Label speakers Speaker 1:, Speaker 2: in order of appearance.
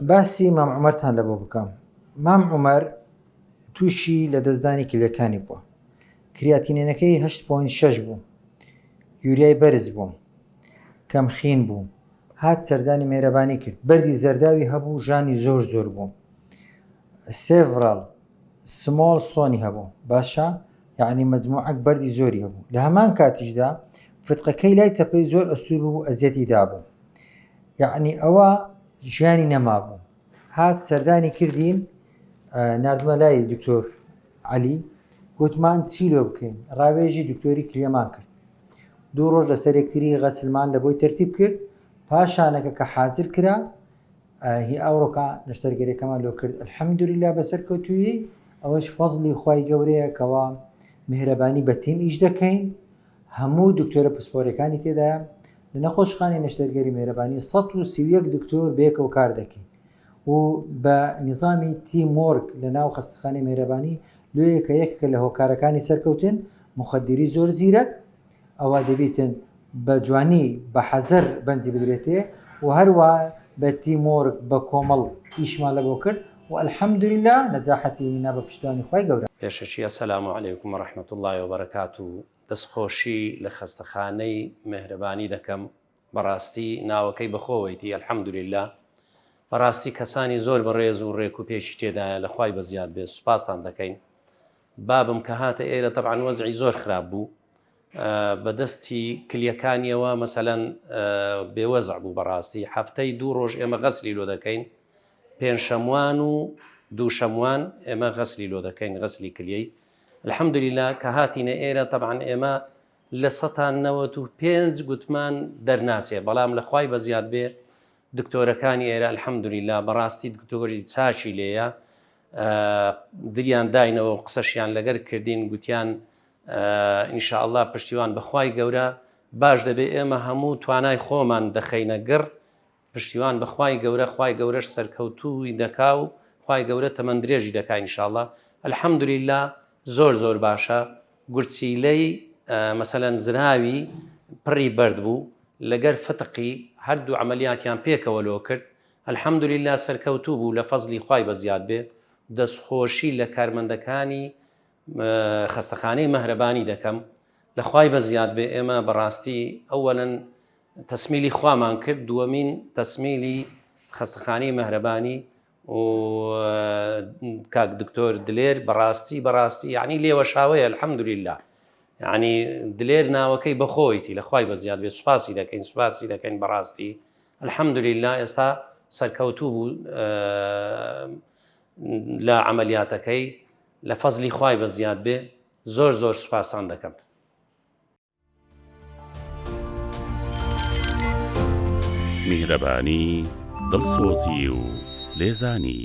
Speaker 1: باسی مام عومەرتان لە بۆ بکەم مام عومەر تووشی لە دەستدانی کلەکانی بووە کریاتینێنەکەی 8.6 بوو یوریای بەرز بوو کەم خین بوو هات سەردانی مێرەبانی کرد بەری زەرداوی هەبوو ژانی زۆر زۆر بوو سێڤڕال سمۆڵ ستۆنی هەبوو باشە یەعنی مەجموعەک بەردی زۆری هەبوو لە هەمان کاتیشدا فتقەکەی لای چەپەی زۆر ئەستور بوو ئەزیەتی دابوو یەعنی ئەوە ژیانی نەمابوو هات سەردانی کردین نردمە لای دکتۆر علی گوتمان چی لۆ بکەین ڕاوێژی دکتۆری کلێمان کرد دوو ڕۆژ لەسەر یەکتری غەسلمان لە بۆی تەرتیب کرد پاشانەکە کە حازر کرا هی ئەوڕۆکە نەشتەرگەرەکەمان لۆ کرد الحمدللە بەسەرکەوتویی ئەوەش فەزلی خی گەورەیە کەوا مهرەبانی بە تیم ئیش دەکەین هەموو دکتۆرە پسپۆرەکانی تێدا لە نەخۆشخانی نەشتەرگەری مهرەبانی 1970 دکتۆر بێکەوە کار دەکەین و بە نظامی تیمۆرگ لە ناو خستخانی مهرەبانی لۆیەکە یەکەکە لە هۆکارەکانی سەرکەوتن مخدری زۆر زیرەک ئەوا دەبیتن بە جوانی بە حەزەر بەنجی بدرێتێ و هەروە بە تیمۆرک بە کۆمەڵ ئیشمان لە بۆ کرد و الحمدللە نەجاحەتی هینا بە پشتیوانی خوای گەورە. پێشەکی السلام
Speaker 2: علیکم و رحمت اللە و برکاته دەست خۆشی لە خەستەخانەی مێهرەبانی دەکەم بەڕاستی ناوەکەی بەخۆوەیتی الحمدللە بەڕاستی کەسانی زۆر بەڕێز و ڕێک و پێکی تێدایە لە خوای بەزیاد بێت سوپاستان دەکەین بابم کە هاتە ئێرە تەبعەن وەزعی زۆر خراپ بوو بە دەستی کلیەکانیەوە مەسەلەن بێ وەزع بوو بەڕاستی هەفتەی دوو ڕۆژ ئێمە غەسلی لۆ دەکەین پێنج شەموان و دوو شەموان ئێمە غەسلی لۆ دەکەین غەسلی کلیەی الحمد لله کە هاتینە ئێرە تەبعەن ئێمە لە سەتان نەوەت و پێنج گوتمان دەرناچێ بەڵام لە خوای بە زیاد بێ دکتۆرەکانی ئێرە الحمدلی لا بەڕاستی دکتۆری چاچی لێیە دلیان داینەوە و قسەشیان لەگەر کردین گوتیان ئینشاءله پشتیوان بەخوای گەورە باش دەبێ ئێمە هەموو توانای خۆمان دەخەینە گڕ پشتیوان بەخوای گەورە خی گەورەش سەرکەوتووی دەکا و خی گەورە تەمەند درێژی دەکا ئینشاءله الحەمدلیلا زۆر زۆر باشە گورچیلەی مەسەەن زراوی پڕی بەرد بوو لەگەر فتقی هەردوو عملیاتیان پێکەوە لۆ کرد الحمدللە سەرکەوتوو بوو لە فەزلی خوای بەزیاد بێ دەستخۆشی لە کارمەندەکانی خەستەخانەی مەهرەبانی دەکەم لە خوای بەزیاد بێ ئێمە بەڕاستی ئەوەن تەسمیلی خوامان کرد دووەمین تەسمیلی خەستەخانەی مەهرەبانی و کاک دکتۆر دلێر بەڕاستی بەڕاستی یعنی لێوەشاوەیە الحمدللە یعنی دلێر ناوەکەی بەخۆیتی لە خوای بەزیاد بێ سوپاسی دەکەین سوپاسی دەکەین بەڕاستی الحمدللە ئێستا سەرکەوتوو بوو لە عملیاتەکەی لە فەزلی خوای بە زیاد بێ زۆر زۆر سوپاسان دەکەم.
Speaker 3: میهرەبانی دڵسۆزی و لێزانی.